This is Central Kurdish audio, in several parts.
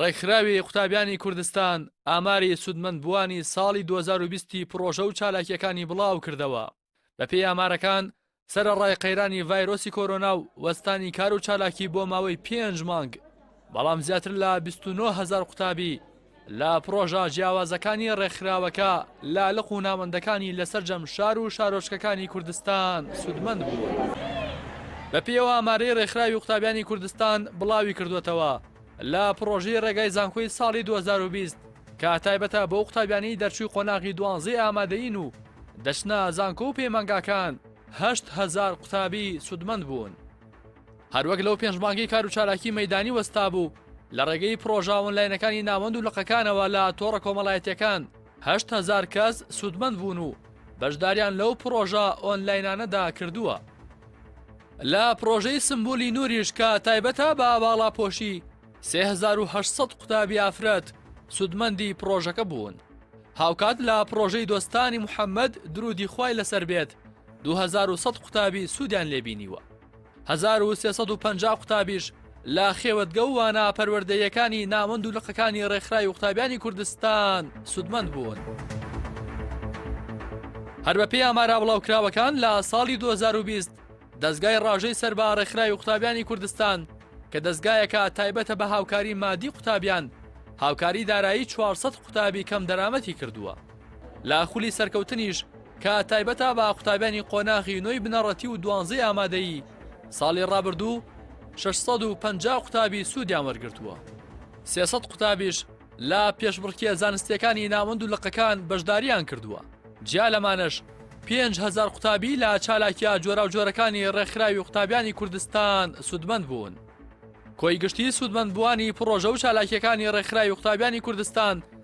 ڕێکخراوی قوتابیانی کوردستان ئاماری سوودمەندبووانی ساڵی دوو هەزار و بیست ی پڕۆژە و چالاکییەکانی بڵاوکردەوە، بەپێی ئامارەکان سەرەڕای قەیرانی ڤایرۆسی کۆرۆنا و وەستانی کار و چالاکی بۆ ماوەی پێنج مانگ، بەڵام زیاتر لە بیست و نۆ هەزار قوتابی، لە پڕۆژە جیاوازەکانی ڕێکخراوەکە، لالق و ناوەندەکانی لە سەرجەم شار و شارۆچکەکانی کوردستان سوودمەند بوون. بە پێیەوە ئامارەی ڕێکخراوی قوتابیانی کوردستان بڵاوی کردووەتەوە، لە پڕۆژەی ڕێگای زانکۆی ساڵی دوو هەزار و بیست کە تایبەتە بەو قوتابیانەی دەرچووی قۆناغی دوانزەی ئامادەیین و دەچنە زانکۆ و پەیمانگاکان، هەشت هەزار قوتابی سوودمەند بوون. هەروەک لەو پێنج مانگەی کار و چالاکی مەیدانی وەستابوو، لە ڕێگەی پڕۆژە ئۆنلاینەکانی ناوەند و لقەکانەوە لە تۆڕە کۆمەڵایەتییەکان هەشت هەزار کەس سوودمەند بوون و بەشداریان لەو پڕۆژە ئۆنلاینانەدا کردووە. لە پڕۆژەی سمبولی نوریش کە تایبەتە بە باڵاپۆشی، سێ هەزار و هەشت سەد قوتابی ئافرەت سوودمەندی پڕۆژەکە بوون. هاوکات لە پڕۆژەی دۆستانی محەممەد، دروودی خوای لەسەر بێت، دوو هەزار و سەد قوتابی سوودیان لێ بینیوە. هەزار و سێ سەد و پەنجا قوتابیش لە خێوەتگە و وانە پەروەردەییەکانی ناوەند و لقەکانی ڕێکخراوی قوتابیانی کوردستان سوودمەند بوون. هەر بەپێی ئامارا بڵاوکراوەکان لە ساڵی 2020 دەزگای ڕاژەی سەر بە ڕێکخراوی قوتابیانی کوردستان کە دەزگایەکە تایبەتە بە هاوکاری مادی قوتابیان هاوکاری دارایی 400 قوتابی کەم دەرامەتی کردووە. لە خولی سەرکەوتنیش کە تایبەتە بە قوتابیانی قۆناغی نۆی بنەڕەتی و دوانزەی ئامادەیی، ساڵی ڕابردوو شەش سەد و پەنجا قوتابی سوودیان وەرگرتووە. سێ سەد قوتابیش لە پێشبڕکێ زانستییەکانی ناوەند و لقەکان بەشدارییان کردووە. جیا لەمانەش پێنج هەزار قوتابی لە چالاکییە جۆراوجۆرەکانی ڕێکخراوی قوتابیانی کوردستان سوودمەند بوون. کۆی گشتیی سوودمەندبووانی پڕۆژە و چالاکییەکانی ڕێکخراوی قوتابیانی کوردستان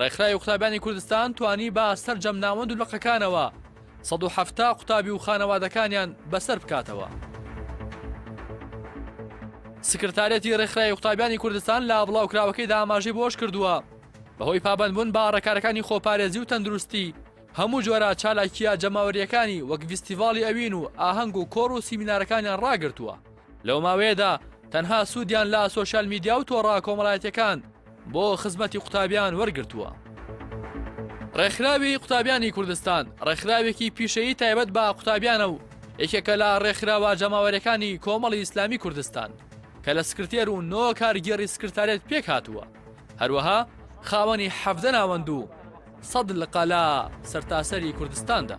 ڕێکخراوی قوتابیانی کوردستان توانی بە سەرجەم ناوەند و لقەکانەوە سەد و حەفتا قوتابی و خانەوادەکانیان بەسەر بکاتەوە. سکرتارێتی ڕێکخراوی قوتابیانی کوردستان لە بڵاوکراوەکەیدا ئاماژەی بەوەش کردووە، بەهۆی پابەندبوون بە ڕێکارەکانی خۆپارێزی و تەندروستی، هەموو جۆرە چالاکییە جەماوەرییەکانی وەک ڤیستیڤاڵی ئەوین و ئاهەنگ و کۆڕ و سیمینارەکانیان ڕاگرتووە. لەو ماوەیەدا تەنها سوودیان لە سۆشیال میدیا و تۆڕە کۆمەڵایەتیەکان بۆ خزمەتی قوتابیان وەرگرتووە. ڕێکخراوی قوتابیانی کوردستان ڕێکخراوێکی پیشەیی تایبەت بە قوتابیانە و یەکێکە لە ڕێکخراوە جەماوەرەکانی کۆمەڵی ئیسلامی کوردستان کە لە سکرتێر و نۆ کارگێڕی سکرتارێت پێک هاتووە هەروەها خاوەنی حەڤدە ناوەند و سەد لقە لە سەرتاسەری کوردستاندا.